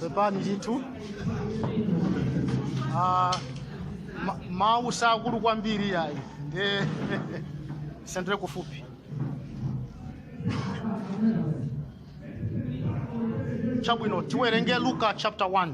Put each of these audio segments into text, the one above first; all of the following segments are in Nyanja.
pepani ndithu Ah, ma- mawu sakukula kwambiri ayi nde senderani kufupi chabwino tiwerenge luka chapter 1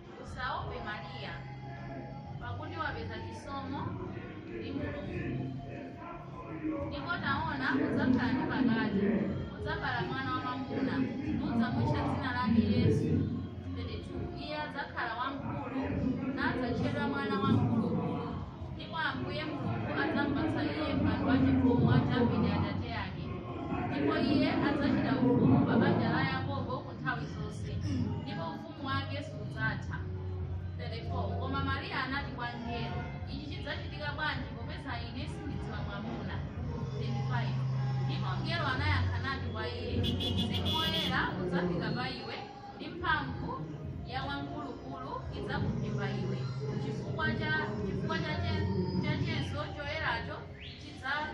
Usaope Maria, pakuti wapeza chisomo ndi Mulungu. Ndipo taona, udzakhala ndi pakati, udzabala mwana wamwamuna, nudzamutcha dzina lake Yesu. 32 Iye adzakhala wamkulu, nadzatchedwa mwana wa Wamkulukulu. Ndipo Ambuye Mulungu adzampatsa iye mpando wachifumu wa Davide atate ake. Ndipo iye adzachita ufumu pa banja la Yakobo ku nthawi zonse, ndipo ufumu ufumu wake sudzatha 34 koma maria anati kwa mngelo ichi chidzachitika bwanji popeza ine sindidziwa mwamuna 35 ndipo mngelo anayankha nati kwa iye mzimu woyera udzafika pa iwe ndi mphamvu ya wamkulukulu idzakuphimba iwe chifukwa cha chifukwa chache- chachenso choyeracho chidza-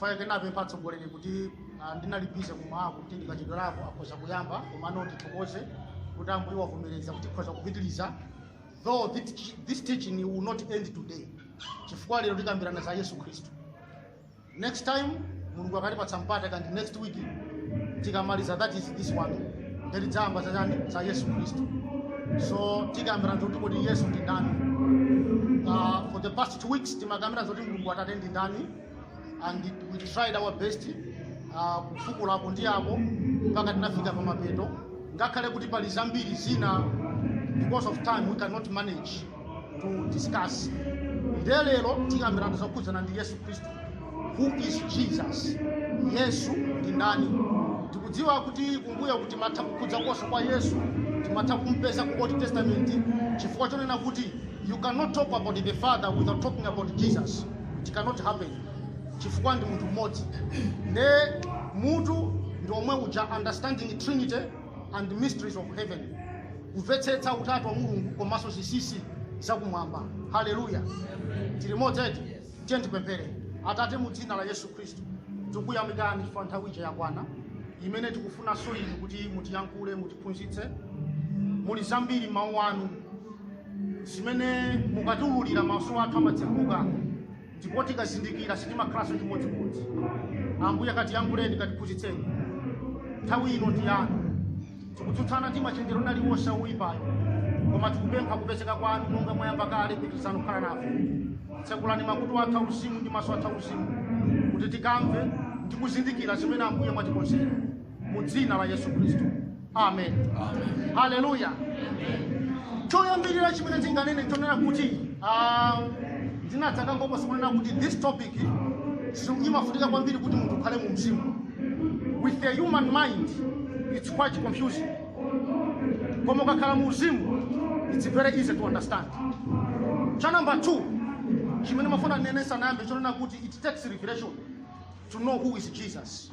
faya ndinapempha atsogoleri kuti ah, ndinali busy kum'mawaku kuti ndikachedwerako akhoza kuyamba komano ndithokoze kuti ambuye wavomereza kuti tikhoza kupitiriza though this, this teaching will not end today chifukwa lero tikambirana za yesu khristu next time mulungu akatipatsa mpata kaya ndi next week tikamaliza that is this one nde tidzayamba zachani za yesu khristu so tikambirana zoti kuti yesu ndi ndani uh, for the past two weeks timakambirana zoti mulungu atate ndi ndani and we tried our best uh, kufukula uko ndi uko mpaka tinafika pa mapeto ngakhale kuti pali zambiri zina because of time we cannot manage to discuss nde lero tikambirana zokhudzana ndi yesu khristu who is jesus yesu ndi ndani tikudziwa kuti kumbuyoku timatha kukhudzakonso kwa yesu timatha kumpeza ku old testament chifukwa chonena kuti you cannot talk about the father without talking about jesus it cannot happen chifukwa ndi munthu mmodzi nde mutu ndi omwe uja understanding trinity and mysteries of heaven kumvetsetsa utatu wa mulungu komanso zinsinsi zakumwamba haleluya tili limodzi eti tiyeni tipemphere atate mu dzina la yesu khristu tikuyamikani chifukwa nthawi ija yakwana imene tikufunanso inu kuti mutiyankhule mutiphunzitse muli zambiri mawu anu zimene mukatiululira maso athu amatsekuka ndipo tikazindikira sitimakhalanso chimodzimodzi ambuye akatiyankhuleni katiphunzitseni nthawi ino ndi yanu tikutsutsana ndi machenjero aliwonse a woyipayo koma tikupempha kupezeka kwanu monga mwayamba kale pitirizani kukhala nafe tsekulani makutu athu auzimu ndi maso athu auzimu kuti tikamve ndi kuzindikira zimene ambuye mwatikonzera mu dzina la yesu khristu amen haleluya choyambirira chimene ndinganene n'chonena kuti ah, ndinadzakambapo kunena kuti this topic si- imafunika kwambiri kuti munthu ukhale mu mzimu with the human mind it's quite confusing koma ukakhala mu mzimu it's very easy to understand cha number two chimene ndimafuna ndinene ndisanayambe n'chonena kuti it takes revelation to know who is jesus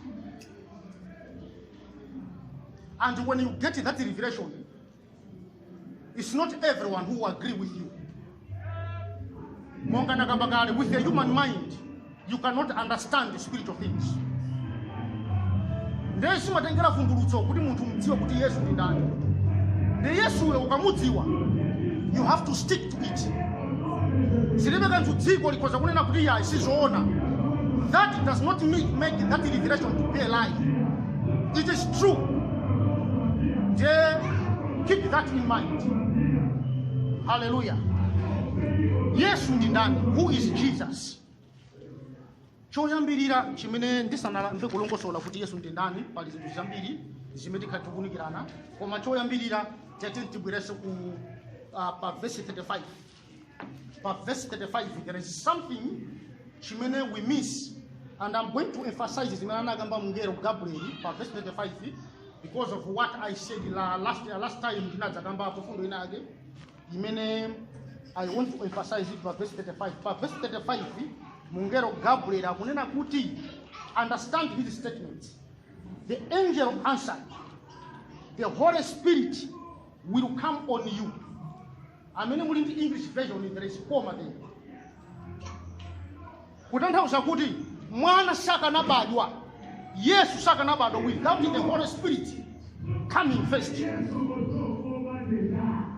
And when you get that revelation, it's not everyone who will agree with you. Monga nakamba kale, with the human mind, you cannot understand the spiritual things. Ndiye zimatengera vumbulutso kuti munthu udziwe kuti Yesu ndi ndani. Nde Yesuyo ukamudziwa, you have to stick it zilibe kanthu dziko likhoza kunena kuti ayi sizoona that does not make, make that revelation to be a lie it is true nde keep that in mind haleluya yesu ndi ndani who is jesus choyambirira chimene ndisanayambe kulongosola kuti yesu ndi ndani pali zinthu zambiri zimene tikhala tikuunikirana koma choyambirira tete tibwereze ku uh, pa verse 35 pa verse 35 there is something chimene we miss and i'm going to emphasize zimene anakamba mngelo gabriel pa verse 35 because of what i said la, last, last time ndinadzakambapo mfundo ina yake imene i want to emphasize it pa verse 35 pa verse 35 mungelo gabriel akunena kuti understand his statement the angel answered the holy spirit will come on you amene muli ndi english version there is comma there kutanthauza kuti mwana sakanabadwa yesu sakanabadwa without the holy spirit coming first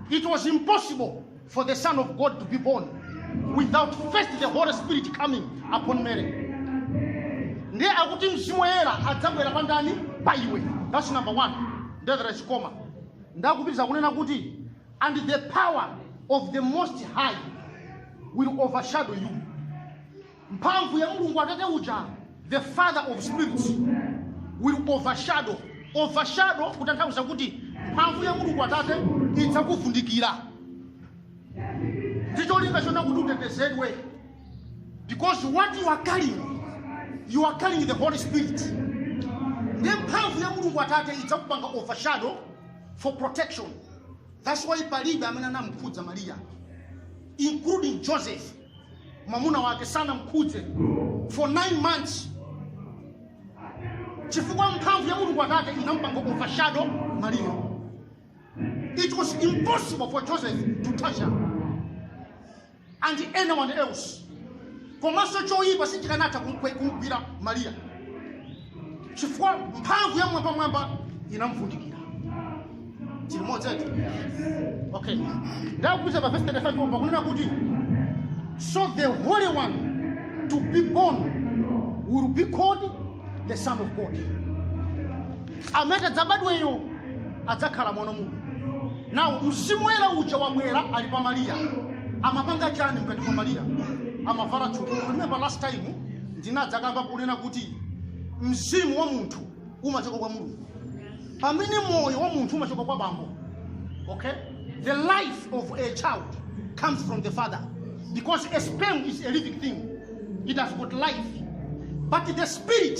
it was impossible for the son of god to be born without first the holy spirit coming upon mary ndiye akuti mzimu woyera adzabwera pa ndani pa iwe that's number one nde there is comma nde akupitiriza kunena kuti and the power of the Most High will overshadow you. Mphamvu ya Mulungu Atate uja, the Father of spirits, will overshadow. Overshadow kutanthauza kuti mphamvu ya Mulungu Atate idzakuvundikira. Ndi cholinga chona kuti utetezedwe. Because what you are carrying, you are carrying the Holy Spirit. Ndiye mphamvu ya Mulungu Atate idzakupanga overshadow for protection that's why palibe amene anamkhudza mariya including joseph mwamuna wake sanamkhudze for 9 months chifukwa mphamvu ya mulungu atate inampanga overshadow mariya it was impossible for joseph to touch her and anyone else komanso choyipa sichikanatha kumkwe- kumgwira mariya chifukwa mphamvu ya mwambamwamba inamvundikira tili limodzitu okay ndiye akupitiriza pa verse 35 pakunena kuti so the holy one to be born will be called the son of god amene adzabadweyo adzakhala mwana wa mulungu now mzimu woyera uja wabwera ali pa mariya amapanga chani mkati mwa mariya amavala thupi remember last time ndinadzakamba kunena kuti mzimu wa munthu umachoka kwa mulungu pamene moyo wa munthu umachoka kwa bambo okay the life of a child comes from the father because a sperm is a living thing it has got life but the spirit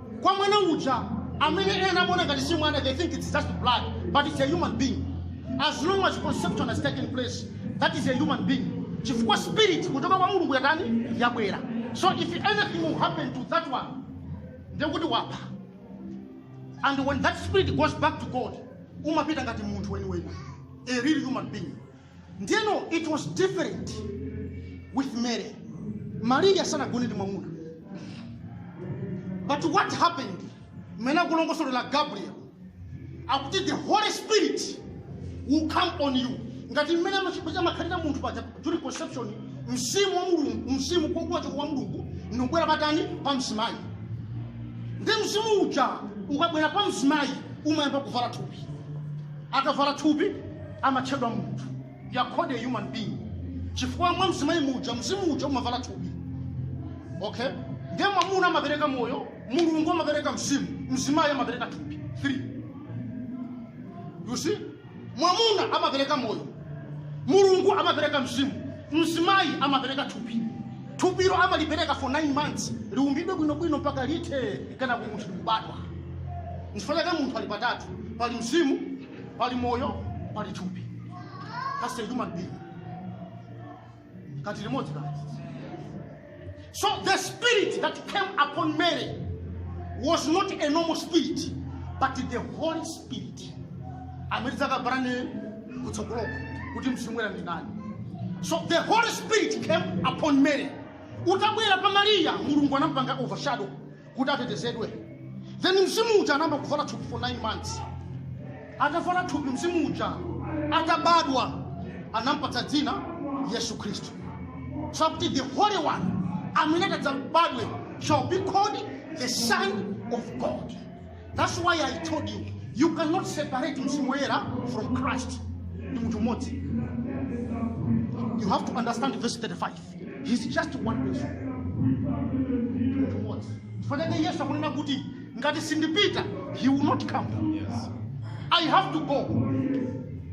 kwa mwana uja amene ena amaona ngati si mwana they think it's just blood but it's a human being as long as conception has taken place that is a human being chifukwa spirit kuchoka kwa mulungu yatani yabwera so if anything will happen to that one ndekuti wapha and when that spirit goes back to god umapita ngati munthu weniweni a real human being ndiyeno it was different with mary mariya sanagone ndi mwamuna but what happened mmene akulongosolera gabriel akuti the holy spirit will come on you ngati mmene amakhalira munthu paja during conception mzimu wa mulungu mzimu kuchoka kwa mulungu ndikubwera patani pa mzimayi ndi mzimu uja ukabwera pa mzimayi umayamba kuvala thupi akavala thupi amatchedwa munthu you are called a human being chifukwa mwa mzimayi muja mzimu uja umavala thupi okay ndiye mwamuna amapereka moyo mulungu amapereka mzimu mzimayi amapereka thupi 3 you see mwamuna amapereka moyo mulungu amapereka mzimu mzimayi amapereka thupi Thupilo amalipereka for 9 months liumbidwe bwinobwino mpaka lithe kenako munthu kubadwa. Nchifukwa chake munthu ali patatu, pali mzimu, pali moyo, pali thupi. That's a human being. Kati limodzi kati. So the spirit that came upon Mary was not a normal spirit, but the Holy Spirit. amene tidzakambirane kutsogoloko kuti mzimu woyera ndi nani so the holy spirit came upon mary utabwera pa mariya mulungu anampanga overshadow kuti atetezedwe then mzimu uja anayamba kuvala thupi for 9 months atavala thupi mzimu uja atabadwa anampatsa dzina yesu khristu so akuti the holy one amene adzabadwe shall be called the son of god That's why I told you, you cannot separate Mzimu Woyera from Christ. Ni mtu mmoja. You have to understand verse 35. He's just one person. Ni mtu mmoja. Mfanyaje Yesu akunena kuti ngati sindipita, he will not come. Yes. I have to go.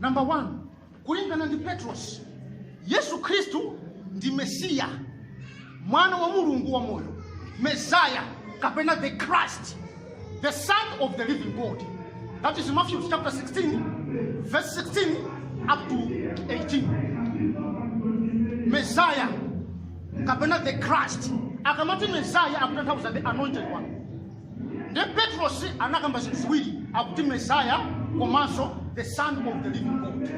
Namba 1 kulingana ndi Petros, Yesu Khristu ndi Mesiya, mwana wa Mulungu wa moyo, Messiah kapena the Christ, the son of the living God. That is Matthew chapter 16 verse 16 up to 18. Messiah kapena the Christ. Akamati Messiah akutanthauza the anointed one. nde petrosi anakamba zinthu ziwiri akuti mesiah komanso the son of the living god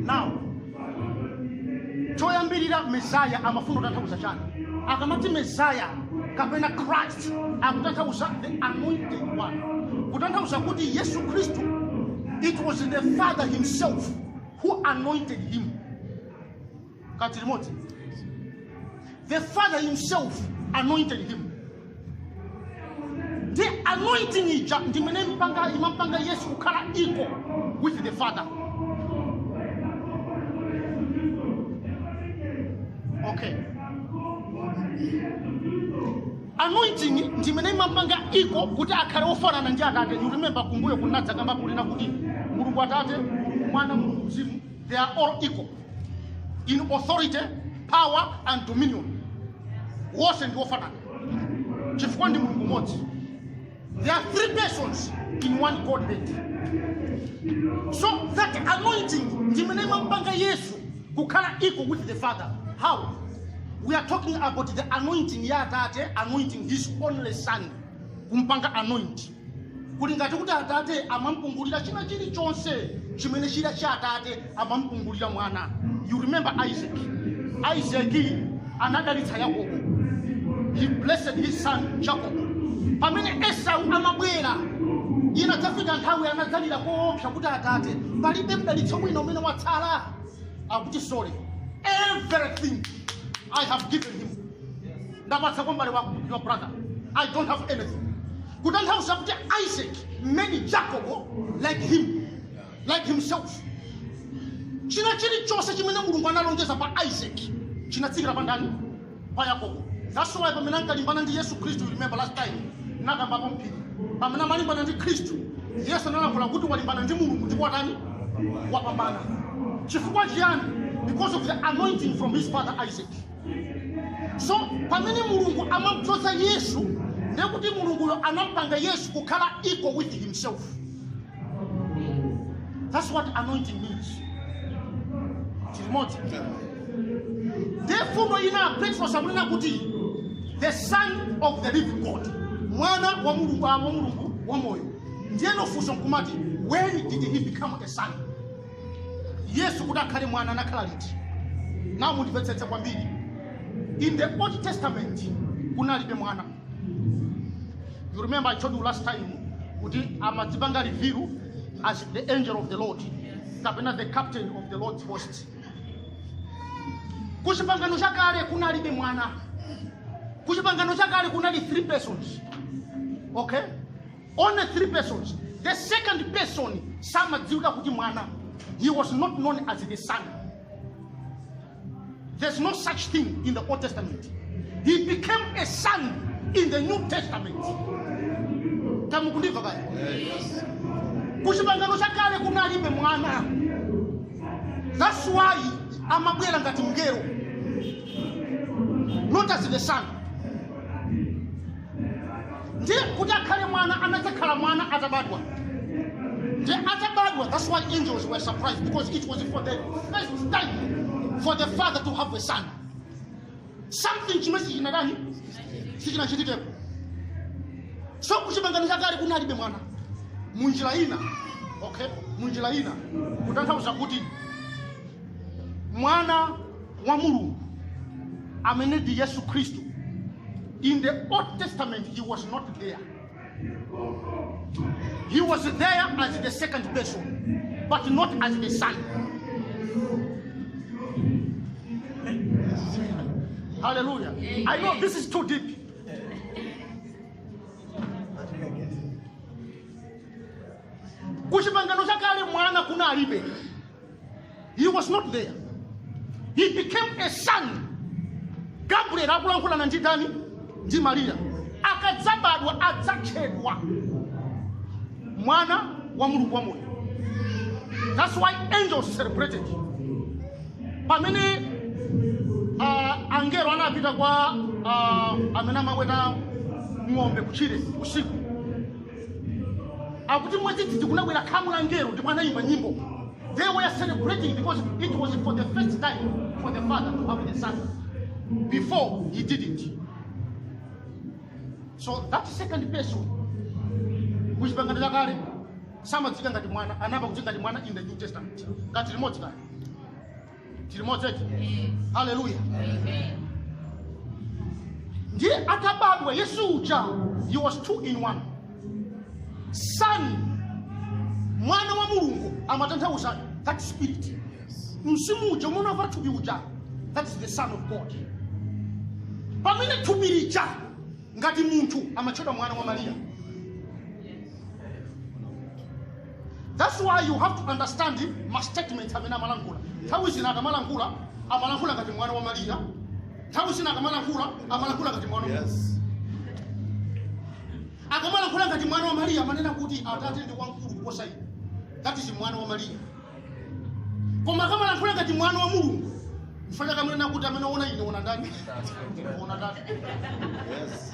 now choyambirira mesiah amafuna kutanthauza chani akamati mesiah kapena christ akutanthauza the anointed one kutanthauza kuti yesu khristu it was the father himself who anointed him kati limodzi the father himself anointed him the anointing ija ndimene imampanga yesu kukhala equal with the father okay anointing ndimene imampanga equal kuti akhale ofanana ndi atate you remember kumbuyo kunadzakamba kulina kuti mulungu atate mulungu mwana mulungu mzimu they are all equal in authority power and dominion wonse ndi wofanana chifukwa ndi mulungu mmodzi there are three persons in one godhead so that anointing ndi imene imampanga yesu kukhala equal with the father how we are talking about the anointing ya atate anointing his only son kumpanga anoint kuli ngati kuti atate amampungulira china chilichonse chimene chili cha atate amampungulira mwana you remember isaac isaac anadalitsa yakobo he blessed his son jacob pamene esau amabwera inadzafika nthawi anadzalira koopsa kuti atate palibe mdalitso wina umene watsala akuti sorry everything i have given him ndapatsa kwa m'bale wako your brother i don't have anything kutanthauza kuti isaac made jacob like him like himself china chilichonse chimene mulungu analonjeza pa isaac chinatsikira pa ndani pa yakobo that's why pamene ankalimbana ndi yesu khristu you remember last time nakambapo mphiri pamene amalimbana ndi khristu yesu analankhula kuti walimbana ndi mulungu ndipo watani wapambana chifukwa chiyani because of the anointing from his father isaac so pamene mulungu amamdzoza yesu ndekuti mulunguyo anampanga yesu kukhala equal with himself that's what anointing means tili limodzi nde mfundo ina petros akunena kuti the son of the living god mwana wa mulungu wa mulungu wa moyo ndiyeno funso nkumati when did he become a son yesu kuti akhale mwana anakhala liti now mundimvetsetse kwambiri in the old testament kunalibe mwana you remember i told you last time kuti amadzipanga reveal as the angel of the lord kapena the captain of the lord's host kuchipangano chakale kunalibe mwana kuchipangano chakale kunali three persons okay Only three persons. The second person samadziwika kuti mwana. He was not known as the son. There's no such thing in the Old Testament. He became a son in the New Testament. Tamukundiva kaya. Kuchipangano cha kale kunalibe mwana. That's why amabwera ngati mngelo. Not as the son. ndiye kuti akhale mwana anadzakhala mwana atabadwa ndiye atabadwa that's why angels were surprised because it was for the first time for the father to have a son something chimene sichinatani sichinachitikepo so kuchipangano chakale kunalibe mwana munjira ina okay munjira ina kutanthauza kuti mwana wa mulungu amene ndi yesu khristu in the old testament he was not there he was there as the second person but not as the son hallelujah i know this is too deep kuchipangano chakale mwana kunalibe he was not there he became a son gabriel akulankhulana ndi ndani ndi mariya akadzabadwa adzatchedwa mwana wa mulungu wamoyo that's why angels celebrated pamene uh, angelo anapita kwa uh, amene amaweta ng'ombe kuchire usiku akuti mwadzidzidzi kunabwera khamu la angelo ndipo anayimba nyimbo they were celebrating because it was for the first time for the father to have the son before he didn't so that second person kuchipangano chakale samadziwika ngati mwana anayamba kudziwika ngati mwana in the new testament ngati tili limodzi kale tili modzeti haleluya ndiye atabadwa yesu uja he was two in one son mwana wa mulungu amatanthauza that spirit mzimu uja umene wavala thupi uja that is the son of god pamene thupi lija ngati munthu amatchedwa mwana wa mariya That's why you have to understand ma statements amene amalankhula. Nthawi zina akamalankhula, amalankhula ngati mwana wa Maria. Nthawi zina akamalankhula, amalankhula ngati mwana wa Mulungu. Yes. akamalankhula ngati mwana wa mariya amanena kuti atate ndi wamkulu kuposa ine that is mwana wa mariya koma akamalankhula ngati mwana wa mulungu mukamva akamanena kuti amene waona ine waona ndani waona ndani Yes.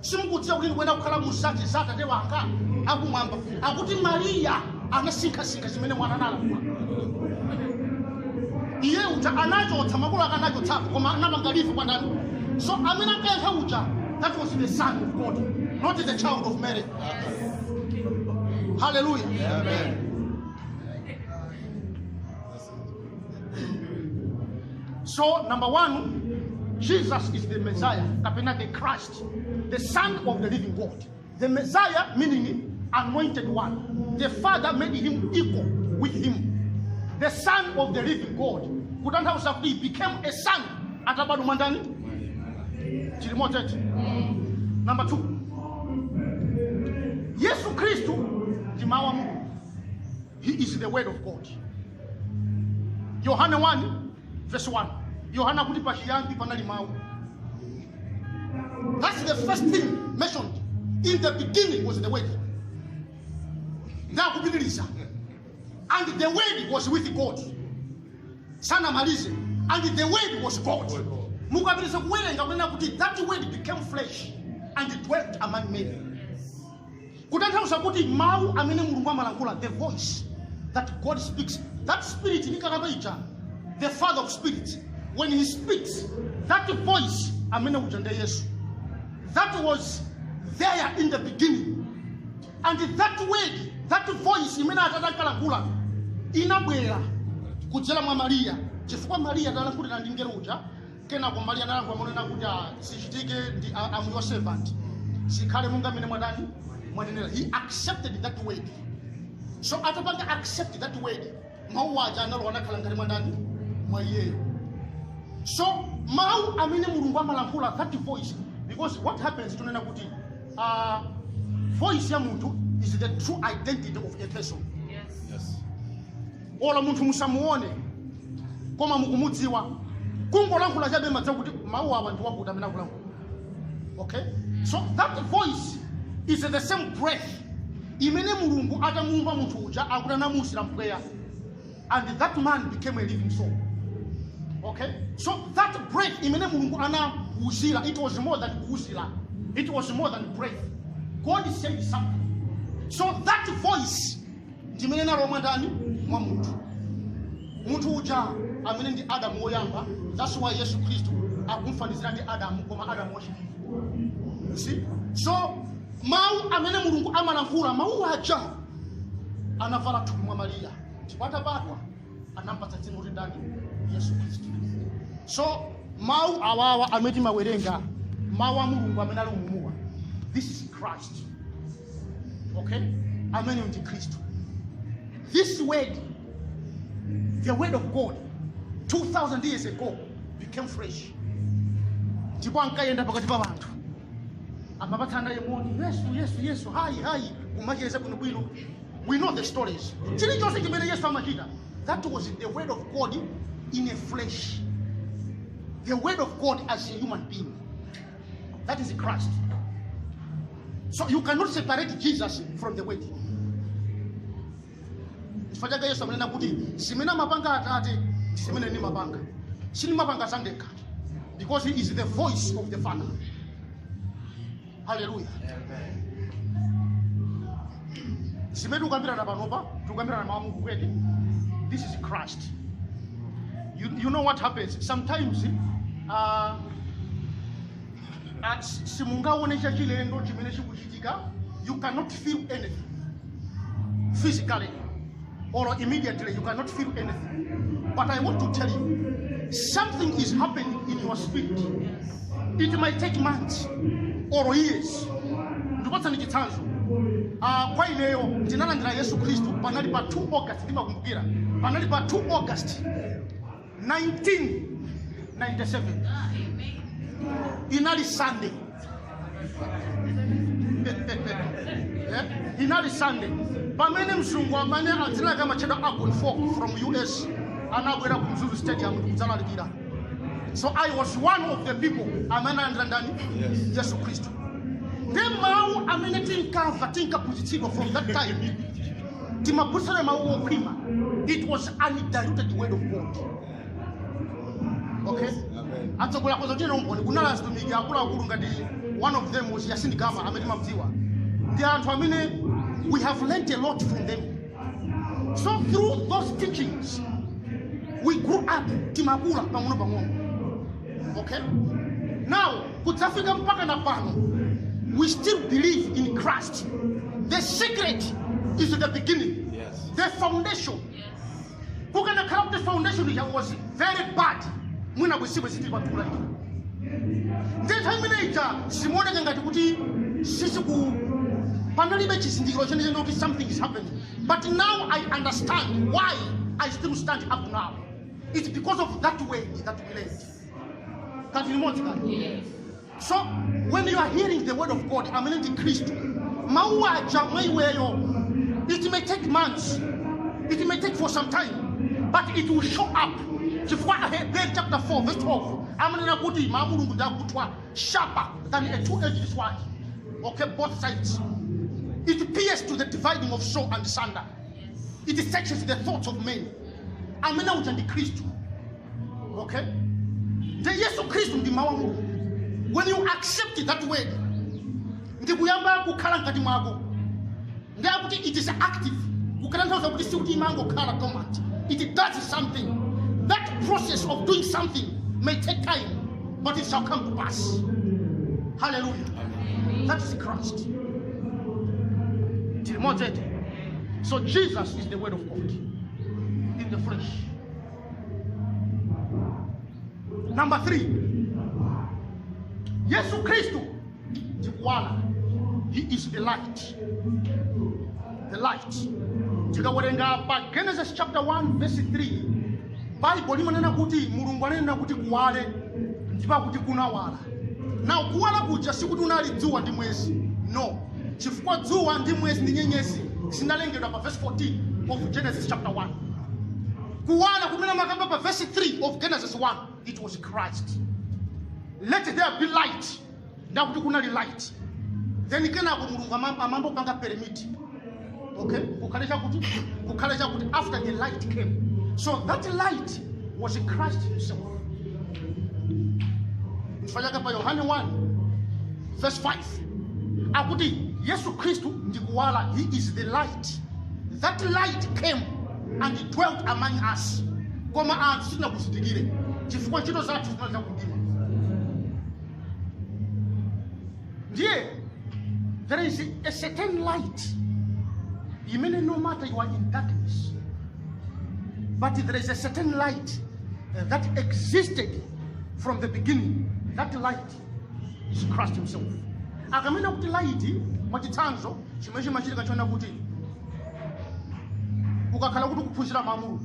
simukudziwa kuti ndikuyenera kukhala mu zinthu za atate wanga akumwamba akuti mariya anasinkhasinkha zimene mwana analankhula iye uja anachotsa makolo ake anachotsapo koma anapanga life kwa ndani so amene ankayankha uja that was the son of god not the child of mary hallelujah Amen. So, number one, Jesus is the Messiah, kapena the Christ, the Son of the living God. The Messiah meaning anointed one. The Father made him equal with him. The Son of the living God. Kutanthauza kuti he became a son atabadwa mwa ndani? Chili motechi. Number two. Yesu Khristu ndi mawu a Mulungu. He is the word of God. Yohane 1 verse 1. Yohane akuti pachiyambi panali mawu. That's the first thing mentioned. In the beginning was the word. Ndakupitiliza. And the word was with God. Sana malize. And the word was God. Mukapitiliza kuwerenga kunena kuti that word became flesh and dwelt among men. kutanthauza kuti mawu amene mulungu amalankhula the voice that god speaks that spirit ndinkakamba ija the father of spirit when he speaks that voice amene uja nde yesu that was there in the beginning and that word that voice imene atate ankalankhula inabwera kudzera mwa mariya chifukwa mariya atalankhulira ndi mngelo uja kenako mariya analankhula monena kuti "Ah, zichitike ah, I am your servant zikhale monga mmene mwatani mwanenera he accepted that word so atapanga accept that word mawu aja analowa nakhala mkati mwa ndani mwa iyeyo so mawu amene mulungu amalankhula that voice because what happens tikunena kuti uh, voice ya munthu is the true identity of a person Yes. olo munthu musamuone koma mukumudziwa kungolankhula chabe mumadziwa kuti mawu awa ndi a wakuti amene akulankhula okay so that voice is the same breath imene mulungu atamuumba munthu uja akuti anamuuzira mpweya and that man became a living soul okay so that breath imene mulungu anauzira it was more than kuuzira it was more than breath god said something so that voice ndi imene inalowa mwa ndani mwa munthu munthu uja amene ndi adamu woyamba that's why yesu khristu akumfanizira ndi adamu koma adamu wachiwiri You see? so mawu amene mulungu amalankhula mawu aja anavala thupi mwa mariya ndipo atabadwa anampatsa dzina kuti ndani yesu khristu so mawu awawa amene timawerenga mawu a mulungu amene ali mumuwa this is christ okay amene ndi khristu this word the word of god 2000 years ago became flesh ndipo ankayenda pakati pa anthu amapatsana ye moni yesu yesu yesu hayi hayi kumacheza kuno bwino we know the stories chilichonse chimene yesu amachita that was the word of god in a flesh the word of god as a human being That is Christ. So you cannot separate Jesus from the word. Chifukwa chake Yesu amanena kuti zimene amapanga Atate ndi zimene nimapanga. Sinimapanga zandekha because he is the voice of the Father. Hallelujah. zimene tikukambirana panopa tikukambirana mawu a mulungu kwete this is christ you, you know what happens sometimes uh, uh, simungaone chachilendo chimene chikuchitika you cannot feel anything physically or immediately you cannot feel anything. But I want to tell you, something is happening in your spirit. It might take months or years. Ndipatseni chitsanzo. Ah, kwa ineyo ndinalandira Yesu Khristu panali pa 2 August ndimakumbukira. Panali pa 2 August 1997 inali sunday Eh, inali sunday pamene mzungu amene dzina lake amatchedwa abon fok from us anabwera ku mzuzu stadium kudzalalikira so i was one of the people amene analandira ndani yesu khristu ndiye mawu amene tinkamva tinkaphunzitsidwa from that time timaphunzira mawu okhwima it was undiluted word of god okay Amen. atsogola kwa zochitira umboni kunali azitumiki akuluakulu ngati one of them was yasin gama amene timamdziwa ndi wanthu amene we have learnt a lot from them so through those teachings we grew up timakula pang'ono pang'ono okay now kudzafika mpaka na pano we still believe in christ the secret is the beginning Yes. the foundation kukanakhala kuti foundation yake was very bad mwina kusiwe zitili patulaika nthawi imene ija zimaoneka ngati kuti sisiku panalibe chizindikiro chenechene kuti something is happening but now i understand why i still stand up now It's because of that way that we learned. Kaya tili limodzi kale. So when you are hearing the word of God, amene ndi Khristu, mawu aja mwa iweyo, it may take months, it may take for some time, but it will show up. Chifukwa Aheberi chapter 4 verse 12 amanena kuti mawu a Mulungu ndi akuthwa sharper than a two-edged sword. Okay, both sides. It pierces to the dividing of soul asunder. it searches the thoughts of men amene uja ndi khristu okay nde yesu khristu ndi mawu a mulungu when you accept that word ndi kuyamba kukhala mkati mwako ndi akuti it is active kutanthauza kuti sikuti imangokhala dormant it does something that process of doing something may take time but it shall come to pass hallelujah that is christ tili limodzi eti So Jesus is the word of God in the flesh. Number three, Yesu Kristu ndi kuwala. He is the light. The light. Tikawerenga pa Genesis chapter 1 verse 3, Bible limanena kuti Mulungu ananena kuti kuwale ndipo akuti kunawala. now kuwala kuja sikuti unali dzuwa ndi mwezi no chifukwa dzuwa ndi mwezi ndi nyenyezi zinalengedwa pa verse 14 of genesis chapter 1 kuwala kumene amakamba pa verse 3 of genesis 1 it was christ let there be light ndi akuti kunali light then kenako mulungu amam- amayamba kupanga permit okay kukhale chakuti kukhale chakuti after the light came so that light was christ himself chifukwa chake pa yohane 1 verse 5 akuti yesu khristu ndi kuwala he is the light that light came and it dwelt among us koma anthu sitinakuzindikire chifukwa ntchito zathu zinali za kumdima ndiye there is a certain light imene no matter you are in darkness but there is a certain light uh, that existed from the beginning that light is christ himself akamanena kuti light mwachitsanzo chimene chimachitika chonena kuti ukakhala kuti kuphunzira mawu a mulungu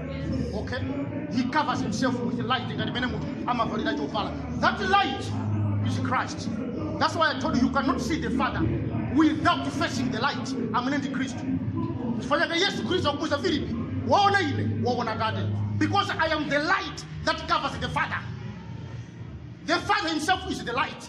okay he covers himself with light ngati mmene munthu amavalira chovala that light is christ that's why i told you you cannot see the father without facing the light amene ndi khristu chifukwa chake yesu khristu akumuuza filipi waona ine waona atate because i am the light that covers the father the father himself is the light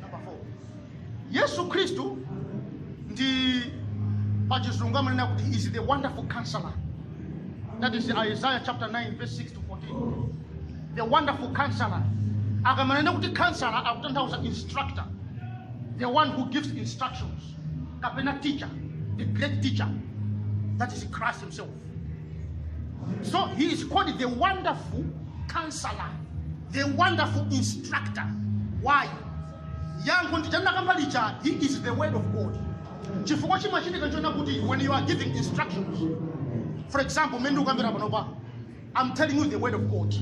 Number four. yesu khristu ndi, pachizungu amanena kuti is the wonderful counselor that is isaiah chapter 9 verse 6 to 14 the wonderful counselor akamanena kuti counselor akutanthauza instructor the one who gives instructions kapena teacher the great teacher that is christ himself So he is called the wonderful counselor, the wonderful instructor. Why? Yankho ndi chanakamba kale chija, he is the word of God. Chifukwa chimachitika nchonena kuti when you are giving instructions, for example, mmene ndikukambira panopa, I'm telling you the word of God.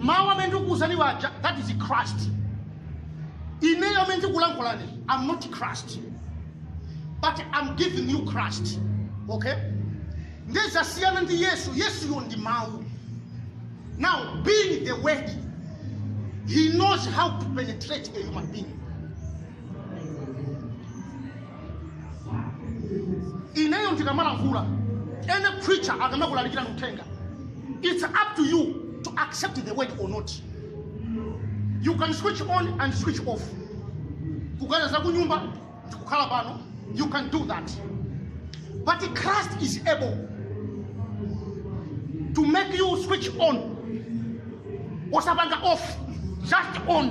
Mawu amene ndikukuuzani waja, that is Christ. Ineyo amene ndikulankhulani, I'm not Christ. But I'm giving you Christ. Okay? Nde zasiyana ndi Yesu, Yesuyo ndi mawu. Now, being the word, he knows how to penetrate a human being. ineyo ndikamalankhula any preacher akamakulalikira uthenga it's up to you to accept the word or not you can switch on and switch off kuganiza za kunyumba ndikukhala pano you can do that but christ is able to make you switch on osapanga off just on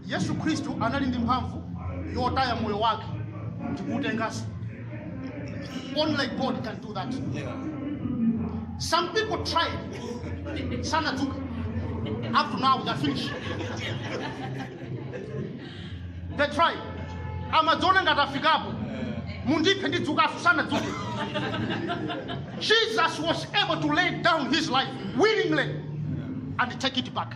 yesu khristu anali ndi mphamvu yotaya moyo wake ndikuutenganso only god can do that some people tried sanadzuka up to now they are finished they tried amadziona ngati afikapo mundiphe ndidzukanso sanadzuke jesus was able to lay down his life willingly and take it back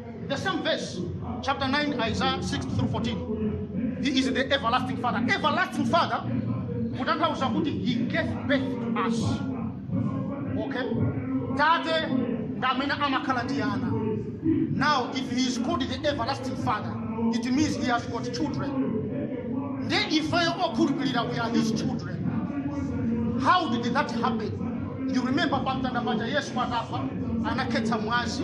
The same verse, chapter 9, Isaiah 6 through 14. He is the everlasting Father. Everlasting Father, kutanthauza kuti he gave birth to us. Okay? Tate ndi amene amakhala ndi ana. Now, if he is called the everlasting Father, it means he has got children. Ndi ifeyo okhulupirira we are his children. How did that happen? You remember pamtanda paja Yesu atafa anakhetsa mwazi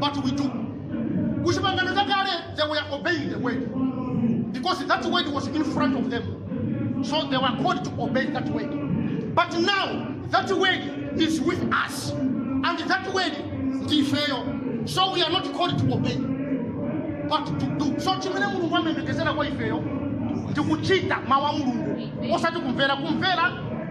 but we do kuchipangano chakale they were obeying the word because that word was in front of them so they were called to obey that word but now that word is with us and that word ndifeyo so we are not called to obey but to do so chimene mulungu amayembekezera kwa ifeyo ndikuchita mawu a mulungu osati kumvera kumvera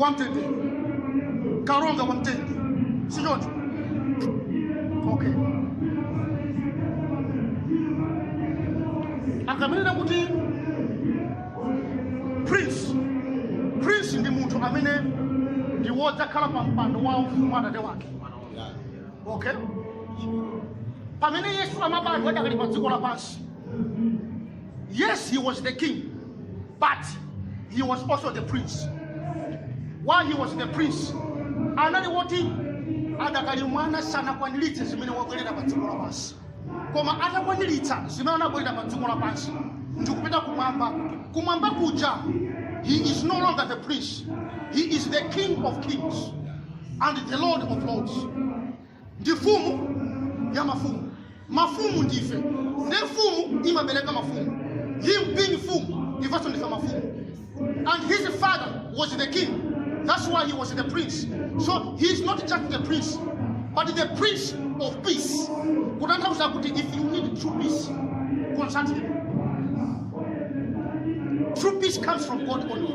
wamtendere kalonga wamtendere si choncho okay akamanena kuti prince prince ndi munthu amene ndi wodzakhala pa mpando wa ufumu wa atate wake okay pamene yesu amabadwa adakali pa dziko lapansi Yes, he was the king, but he was also the prince. While he was the prince, anali woti adakali mwana sanakwaniritse zimene wabwerera pa dziko lapansi koma atakwaniritsa zimene anabwerera pa dziko lapansi ndikupita kumwamba kumwamba kuja he is no longer the prince he is the king of kings and the lord of lords ndi mfumu ya mafumu mafumu ndife nde mfumu imabereka mafumu him being mfumu ifenso ndife mafumu and his father was the king that's why he was the prince so he is not just the prince but the prince of peace kutanthauza kuti if you need true peace consult him true peace comes from god only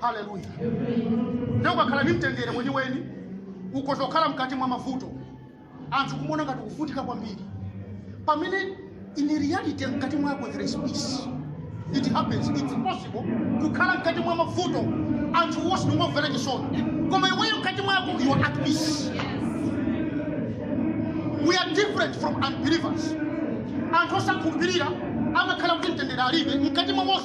haleluya nde ukakhala ndi mtendere weniweni ukhoza kukhala mkati mwa mavuto anthu kumaona ngati ukuvutika kwambiri pamene in reality mkati mwako there is peace it happens it's possible kukhala mkati mwa mavuto anthu wonse nkukumvera chisoni koma iweyo mkati mwako you are at peace we are different from unbelievers anthu osakhulupirira amakhala kuti mtendere alibe mkati mwa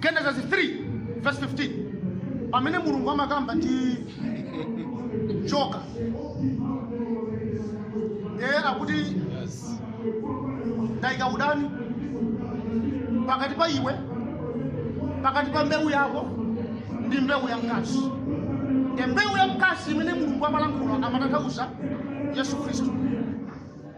genesis 3 verse 15 pamene mulungu amakamba ndi njoka ee akuti ndayika udani pakati pa iwe pakati pa mbewu yako ndi mbewu ya mkazi e mbewu ya mkazi imene mulungu amalankhula amatanthauza yesu khristu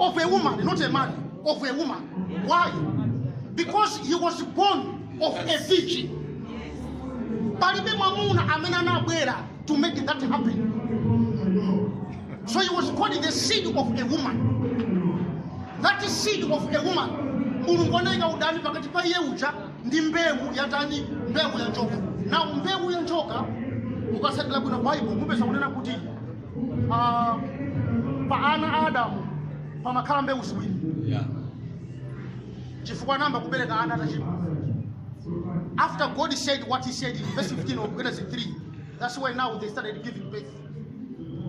of a woman, not a man, of a woman. Why? Because he was born of a virgin. Palibe mwamuna amene anabwera to make that happen. So he was called the seed of a woman. That seed of a woman. Mulungu anayika udani pakati pa iye uja ndi mbewu yatani mbewu ya njoka. Now mbewu ya njoka mukatsatira bwino Bible mupeza kunena kuti Ah, pa ana a adamu pamakhala mbewu ziwiri Yeah. chifukwa anayamba kubereka ana atachimwa after god said what he said in verse 15 of genesis 3 that's why now they started giving birth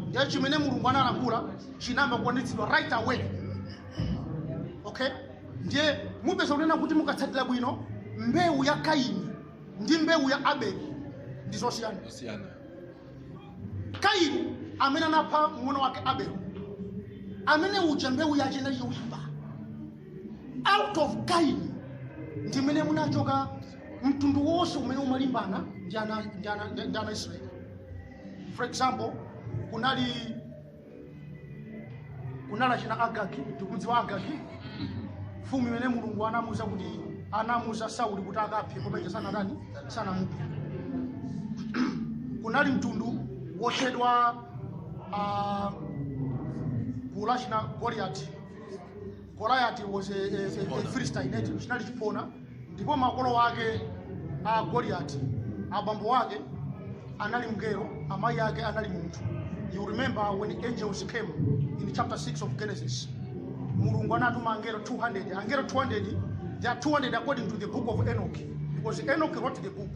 ndiye chimene mulungu analankhula chinayamba kukwaniritsidwa right away okay ndiye mupeza kunena kuti mukatsatira bwino mbewu ya kaini ndi mbewu ya abeli ndi zosiyana. kaini amene anapha mng'ono wake abel amene uja mbewu yace inali yoipa out of kaini ndimene munachoka mtundu wonse umene umalimbana ndi ana a israeli for example kunali kunali achina Agagi tikudziwa agagi mfumu imene mulungu anamuza kuti anamuza sauli kuti akaphe koma iye sanatani sanamuphe kunali mtundu wotchedwa uh, gulu la china goliati goliati was a, a, a, a philistine eti chinali chiphona ndipo makolo ake a Goliati abambo wake anali mngelo amayi ake anali munthu you remember when angels came in chapter 6 of Genesis mulungu anatuma angelo 200 angelo 200 they are 200 according to the book of Enoch because Enoch wrote the book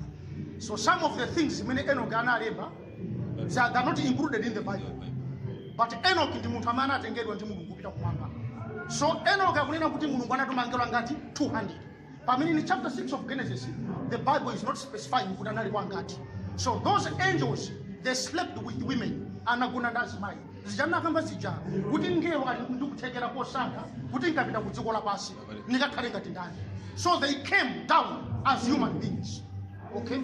so some of the things zimene Enoch analemba They are not included in the Bible. But Enoch ndi munthu amene anatengedwa ndi Mulungu kupita kumwamba. So Enoch akunena kuti Mulungu anatuma angelo angati 200. Pamene in chapter 6 of Genesis, the Bible is not specifying kuti anali kwa angati. So those angels they slept with women anagona ndi azimayi. Zija nakamba zija kuti ngelo ali ndi kuthekera kosankha kuti ndikapita ku dziko lapansi ndikakhale ngati ndani. So they came down as human beings. okay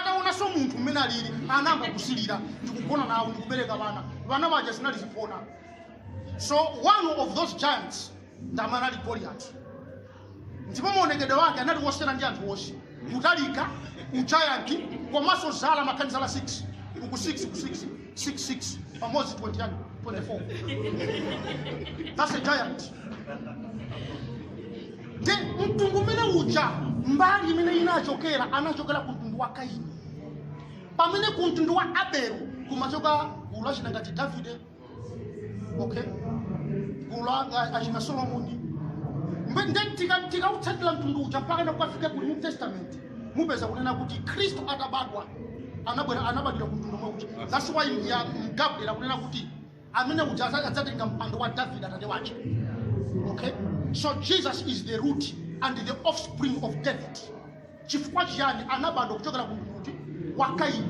ataonanso munthu mmene alili anayamba kusilira ndikugona nawo ndikubereka vana vana vaja zinali ziphona so one of those giants ndamene anali goliati ndipo maonekedwe wake anali wosiyana ndi anthu onse kutalika ujayanti komanso zala amakhala ndi zala 6 uku 6 uku 6 6 6 pamodzi 20 chani 24 that's a giant nde mtundu umene uja mbali imene inachokera anachokera ku mtundu wa kaini pamene ku mtundu wa abelu kumachoka gulu la achina ngati davide okay gulu la- achina solomoni Mbe- nde tika- tikautsatira mtundu uja mpakana kukafika ku new testament mupeza kunena kuti khristu atabadwa anabwera anabadwira ku mtundu omwe uja that's why ya Gabriel akunena kuti amene uja adza- adzatenga mpando wa david atate wace okay so jesus is the root and the offspring of david chifukwa chiyani anabadwa kuchokera ku mtundu kuti wa kaini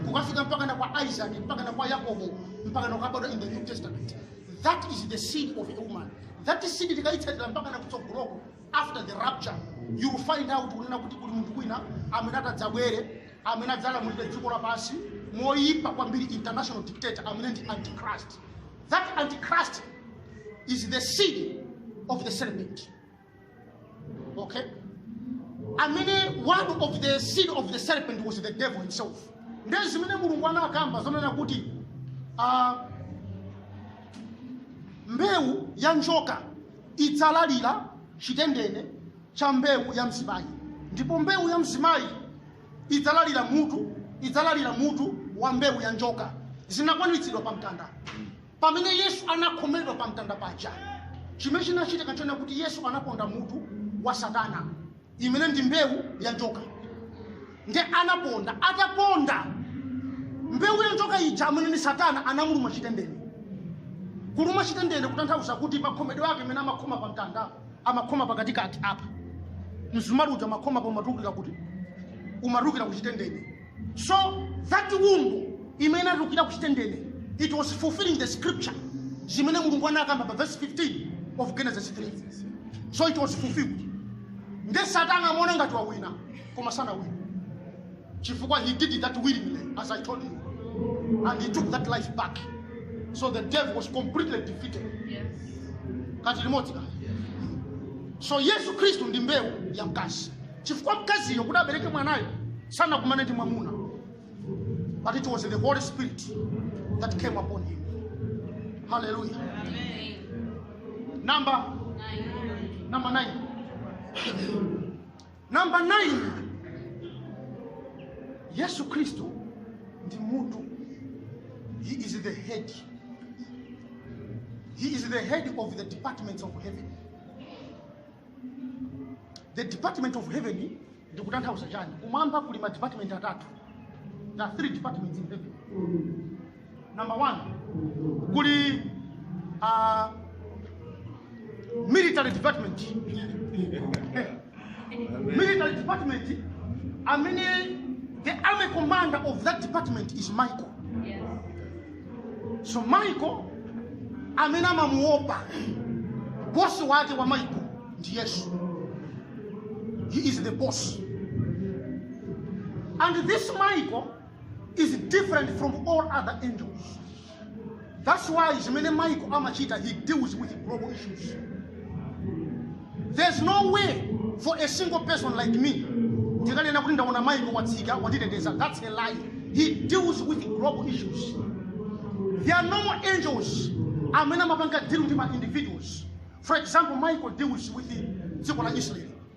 kukafika mpakana kwa isaac mpakana kwa yakobo mpakana kukabadwa in the new testament that is the seed of a woman that seed tikaitsatira mpakana kutsogoloko after the rapture you will find out kunena kuti kuli munthu wina amene atadzabwere amene adzalamulire dziko lapansi moyipa kwambiri international dictator amene ndi antichrist that antichrist is the seed of the serpent okay amene one of the seed of the serpent was the devil himself nde zimene mulungu anakamba zonena kuti ah, mbewu ya njoka idzalalira chitendene cha mbewu ya mzimayi ndipo mbewu ya mzimayi idzalalira mutu idzalalira mutu wa mbewu ya njoka zinakwaniritsidwa pa mtanda pamene yesu anakhomedwa pa mtanda paja chimene chinachitika nchonena kuti yesu anaponda mutu wa satana imene ndi mbewu ya njoka nde anaponda ataponda mbewu ya njoka ija amene ni satana anamuluma chitendene kuluma chitendene kutanthauza kuti makhomedwe ake amene amakhoma pa mtanda amakhoma pakatikati apa msumali uja amakhoma apa umatulukira kuti umatulukira ku chitendene So that wound imene inatulukira ku chitendene it was fulfilling the scripture zimene mulungu anakamba pa verse 15 of genesis 3 so it was fulfilled nde satana amaona ngati wawina koma sanawina chifukwa he did that willingly as i told you and he took that life back so the devil was completely defeated Yes. kati limodzi kale so yesu khristu ndi mbewu ya mkazi chifukwa mkaziyo kuti abereke mwanayo sanakumane ndi mwamuna but it was the holy spirit that came upon him hallelujah number number 9 number 9 yesu kristo ndi mutu he is the head he is the head of the departments of heaven the department of heaven ndikutanthauza chani kumwamba kuli ma department atatu there are three departments in heaven number one kuli uh, military department military department amene the army commander of that department is michael so michael amene amamuopa bosi wake wa michael ndi yesu he is the boss and this michael is different from all other angels that's why zimene michael amachita he deals with global issues there's no way for a single person like me ndikanena kuti ndaona michael watsika watiteteza that's a lie he deals with global issues there are normal angels amene amapanga deal ndi ma individuals for example michael deals with dziko la israel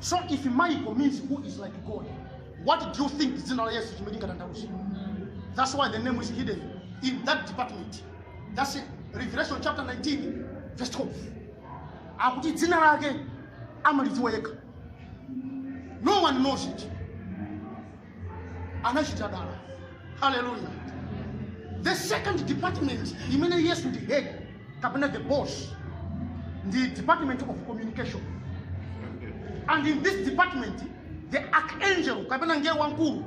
So if Michael means who is like God, what do you think dzina la Yesu chimene lingatanthauze? That's why the name is hidden in that department. That's it. Revelation chapter 19 verse 12. Akuti dzina lake amalidziwa yekha. No one knows it. anachita dala haleluya the second department imene yesu ndi head kapena the boss ndi department of communication and in this department the archangel kapena ngelo wamkulu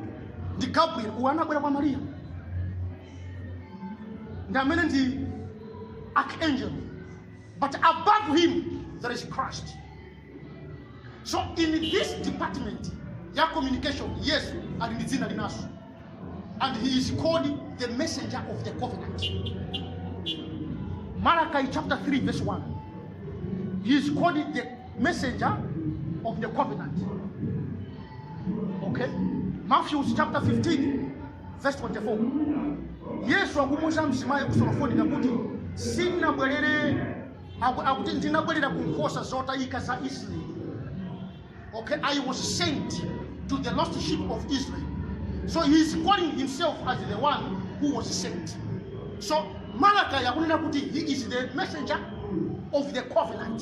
ndi gabriel uyo anabwera kwa mariya ndi amene ndi archangel but above him there is christ so in this department ya communication yesu ali ndi dzina linanso and he is called the messenger of the covenant malachi chapter 3 verse 1 he is called the messenger of the covenant okay matthew chapter 15 verse 24 yesu akumuuza mzimayi wa ku surofonika kuti sinabwerere Aku- akuti ndinabwerera ku nkhosa zotayika za israeli okay i was sent to the lost sheep of israel so he is calling himself as the one who was sent so malakai akunena kuti he is the messenger of the covenant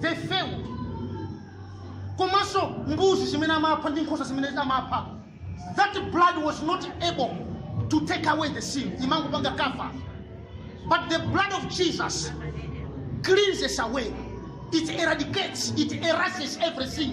they failed komanso mbuzi zimene amapha ndi nkhosa zimene amapha that blood was not able to take away the sin imangopanga cover but the blood of jesus cleanses away it eradicates it erases everything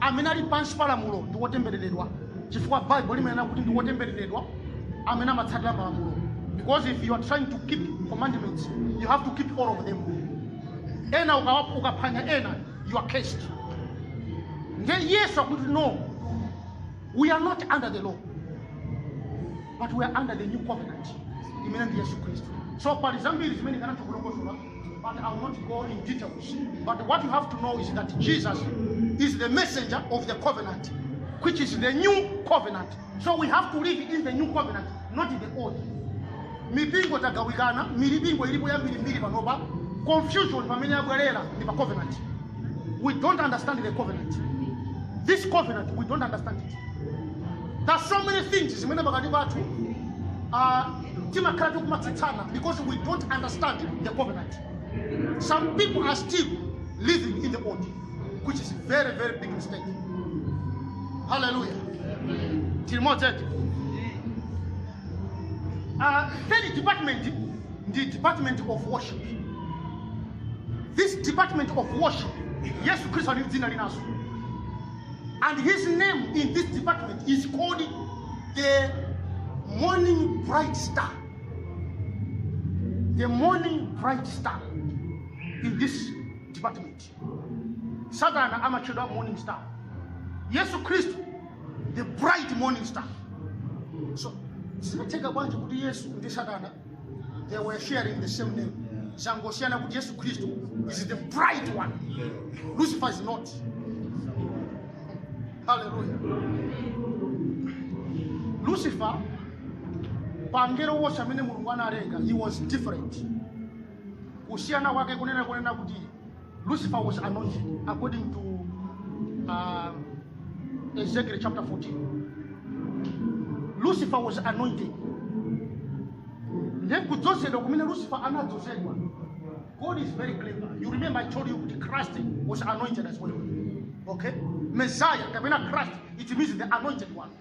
amene ali pansi pa lamulo ndi wotembereredwa chifukwa bible limanena kuti ndi wotembereredwa amene amatsatira malamulo because if you are trying to keep commandments you have to keep all of them ena ukawa- ukaphwanya ena you are cursed nde yes akuti no we are not under the law but we are under the new covenant imene ndi yesu khristu so pali zambiri zimene ndikanatha kulongosola But I will not go in details. But what you have to know is that Jesus is the messenger of the covenant, which is the new covenant. So we have to live in the new covenant, not in the old. mipingo tagawikana milipingo ilipo yambiri mbiri panopa confusion pamene yabwerera ndi pa covenant we don't understand the covenant this covenant we don't understand it there's so many things zimene pakati pathu uh, timakhala tikumatsutsana because we don't understand the covenant some people are still living in the old which is very very big mistake hallelujah tili modzi eti uh, third department ndi department of worship this department of worship yesu khristu ali ndi dzina linanso and his name in this department is called the morning bright star, the morning bright star in this department. Satana amatchedwa morning star. Yesu Kristu the bright morning star. So zinatheka bwanji kuti Yesu ndi Satana they were sharing the same name zangosiyana kuti yesu khristu is the bright one lucifer is not haleluya lucifer pa angelo wose amene mulungu analenga he was different kusiyana kwake kunena kunena kuti Lucifer was anointed according to uh, Ezekiel chapter 14. Lucifer was anointed. Ndiye kudzozedwa kumene Lucifer anadzozedwa. God is very clever. You remember I told you kuti Christ was anointed as well. Okay? Messiah kapena Christ it means the anointed one.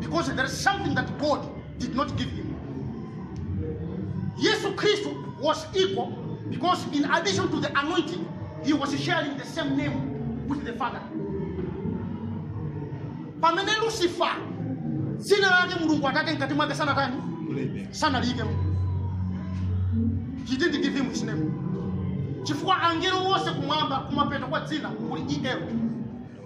because there is something that God did not give him. Yesu Khristu was equal because in addition to the anointing, he was sharing the same name with the Father. Pamene Lucifer dzina lake Mulungu atake mkati mwake sanatani sanaliike he didn't give him his name chifukwa angelo wonse kumwamba kumapeto kwa dzina kuli el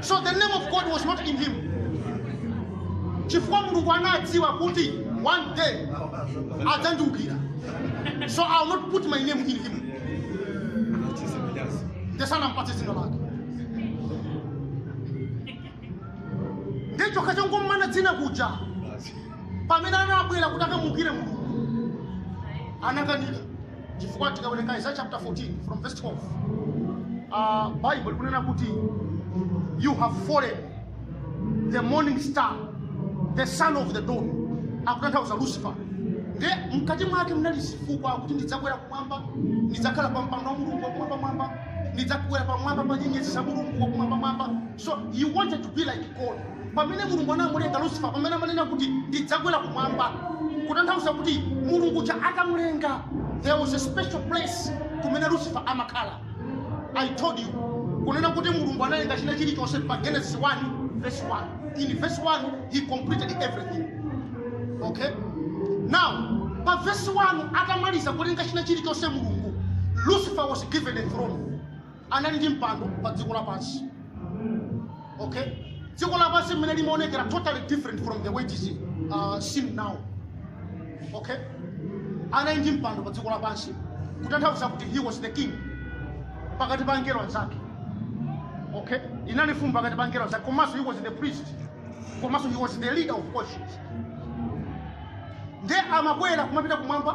So the name of God was not in him. Chifukwa Mulungu anadziwa kuti one day adzandiukira. So I will not put my name in him. Nde sanampatse dzina lake. Ndichoka chongommana dzina kuja. Pamene anabwera kuti akamuukire Mulungu. Anakanika. chifukwa tikawerenga Isaiah chapter 14 from verse 12 uh, Baibulo kunena kuti you have fallen the morning star the son of the dawn akutanthauza Lucifer nde mkati mwake mnali zifukwa kuti ndidzakwera kumwamba ndidzakhala pa mpando wa Mulungu wakumwambamwamba ndidzakwera pamwamba pa nyenyezi za Mulungu wakumwambamwamba So he wanted to be like God. Pamene Mulungu anamulenga Lucifer, pamene amanena kuti ndidzakwera kumwamba, kutanthauza kuti Mulungu uja atamulenga, there was a special place kumene Lucifer amakhala. I told you, kunena kuti Mulungu analenga china chilichonse pa Genesis 1 verse 1. In verse 1 he completed everything. Okay? Now, pa verse 1 atamaliza kulenga china chilichonse Mulungu, Lucifer was given a throne. anali ndi mpando pa dziko lapansi okay dziko lapansi mmene limaonekera totally different from the way it is uh, seen now okay anali ndi mpando pa dziko lapansi kutanthauza kuti he was the king pakati pa angelo anzake okay inali mfumu pakati pa angelo anzake komanso he was the priest komanso he was the leader of worship nde amakwera kumapita kumwamba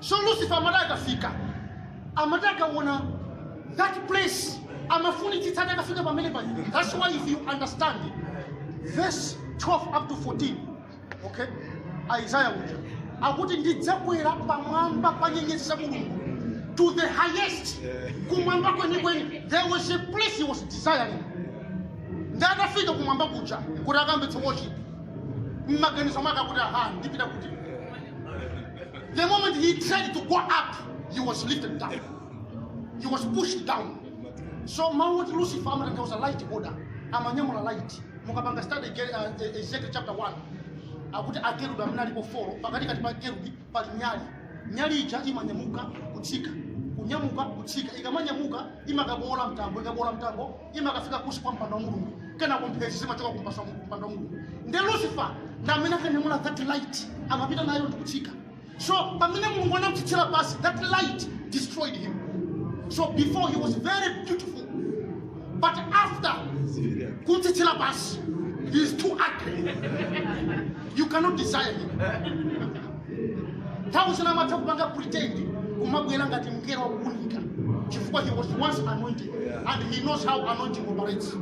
so lucifer amati akafika amati akaona that place amafunitsitsa atakafika pamene paja that's why if you understand verse 12 up to 14 okay isaiah uja akuti ndidzakwera pamwamba pa nyenyezi za mulungu to the highest kumwamba kwenikweni there was a place he was desiring nde atafika kumwamba kuja kuti akambitse worship mmaganizo mwake akuti aha ndipita kuti The moment he tried to go up, he was lifted down. He was pushed down. So mawu oti Lucifer amatanthauza light holder, amanyamula light. Mukapanga study Ge- uh, E- Ezekiel chapter 1, akuti akerubi amene alipo 4, pakati kati pa kerubi pali nyali. Nyali ija imanyamuka kutsika, kunyamuka kutsika, ikamanyamuka imakabowola mtambo, ikabowola mtambo imakafika kunsi kwa mpando wa mulungu kenako mphezi zimachoka kunsi kwa mpando wa mulungu nde lucifer ndi amene akanyamula that light amapita nayo ndikutsika so pamene mulungu anamtsitsira pansi that light destroyed him so before he was very beautiful but after kumtsitsira pansi he is too ugly you cannot desire him nthawi zina amatha kupanga pretend kumabwera ngati mngelo wakuunika chifukwa he was once anointed and he knows how anointing operates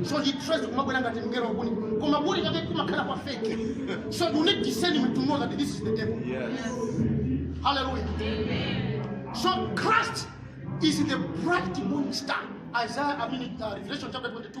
so he tries to kumabwera ngati mngelo wakuunika koma kuunika kake kumakhala kwa fake so you need discernment to know that this is the devil hallelujah so christ is the bright morning star isaiah i mean uh, revelation chapter 22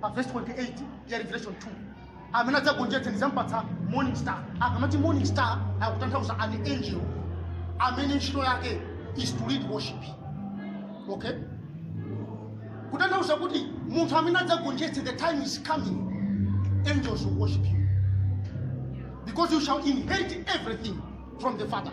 pa verse 28 ya revelation 2 amene adzagonjetse ndizampatsa morning star akamati morning star akutanthauza an angel amene ntchito yake is to lead worship okay kutanthauza kuti munthu amene adzagonjetse the time is coming angels will worship you because you shall inherit everything from the father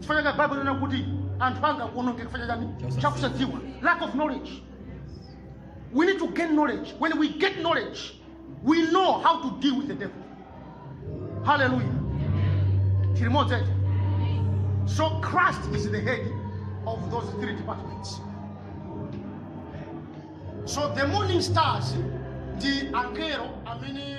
chifukwa chake bible inanena kuti anthu anga akuonongeka chifukwa chani chakusadziwa lack of knowledge we need to gain knowledge when we get knowledge we know how to deal with the devil hallelujah tili limodzi eti so christ is the head of those three departments so the morning stars ndi angelo amene